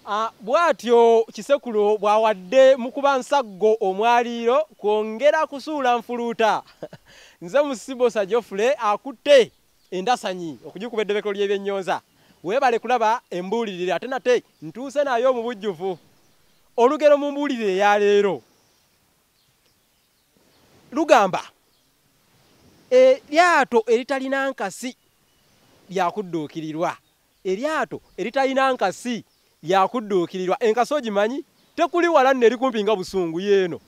Ah, bw'atyo Kisekulo bw'awadde mu kuba nsaggo omwaliiro kwongera kusuula nfuluuta. Nze Musibosa Geoffrey akutte endasanyi okugikuba eddobekero ly'ebyennyonza. Weebale kulaba embuulirire ate nate ntuuse nayo mu bujjuvu. Olugero mu mbuulirire eya leero lugamba eryato eritalina nkasi lya kudduukirirwa. Eryato eritalina nkasi lya kudduukirirwa. Enkasi ogimanyi? Tekuli wala nno eri kumpi nga busungu. Y'eno.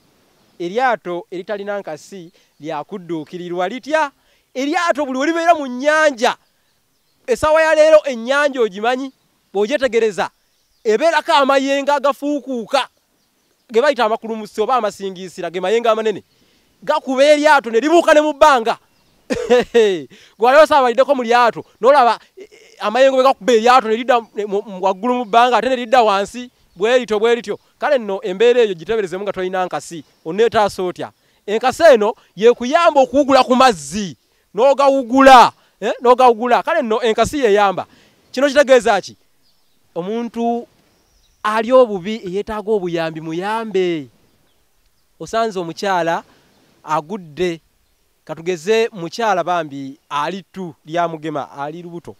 Eryato eritalina nkasi lya kudduukirirwa. Litya? Eryato buli we libeera mu nnyanja, essaawa ya leero ennyanja ogimanyi? Bw'ogyetegereza ebeerako amayengo agafuukuuka ge bayita amakulumusi oba amasingiisira ge mayengo amanene gakuba eryato ne libuuka ne mu bbanga gwali osaabalideko mu lyato nolaba e, e, amayengo bwegakuba eryato nelidda waggulu mu bbanga ate nelidda wansi bwerityo bwerityo kale nno embeera eyo giteberezemu nga tolina nkasi oneetaasa otya enkasi eno yekuyamba okuwugula ku mazzi nogawugula eh, nogawugula kale no enkasi yeyamba kino kitegeeza ki omuntu ali obubi eyetaaga obuyambi muyambe osanze omukyala agudde katugeze mukyala bambi ali tu lya mugema ali lubuto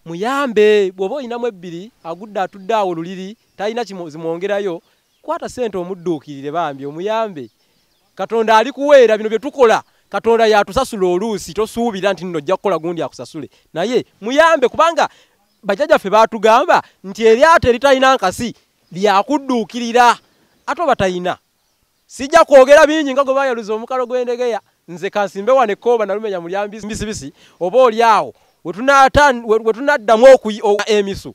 muyambe bwoba olinamu ebbiri agudde atudde awo luliri talina kimwongerayo kwata sente omudduukirire bambi omuyambe katonda ali kuweera bino bye tukola katonda yatusasula oluusi tosuubira nti nno ojja kukola gundi akusasule naye muyambe kubanga bajajaffe baatugamba nti eryato eritalina nkasi lyakudduukirira ate oba talina sijja kwogera bingi nga gwe bayaluza omukalo gw'endegeya nze kansimbe wano ekkooba nalumenya mulyambisibisi oba oli awo wetunaddamu emisu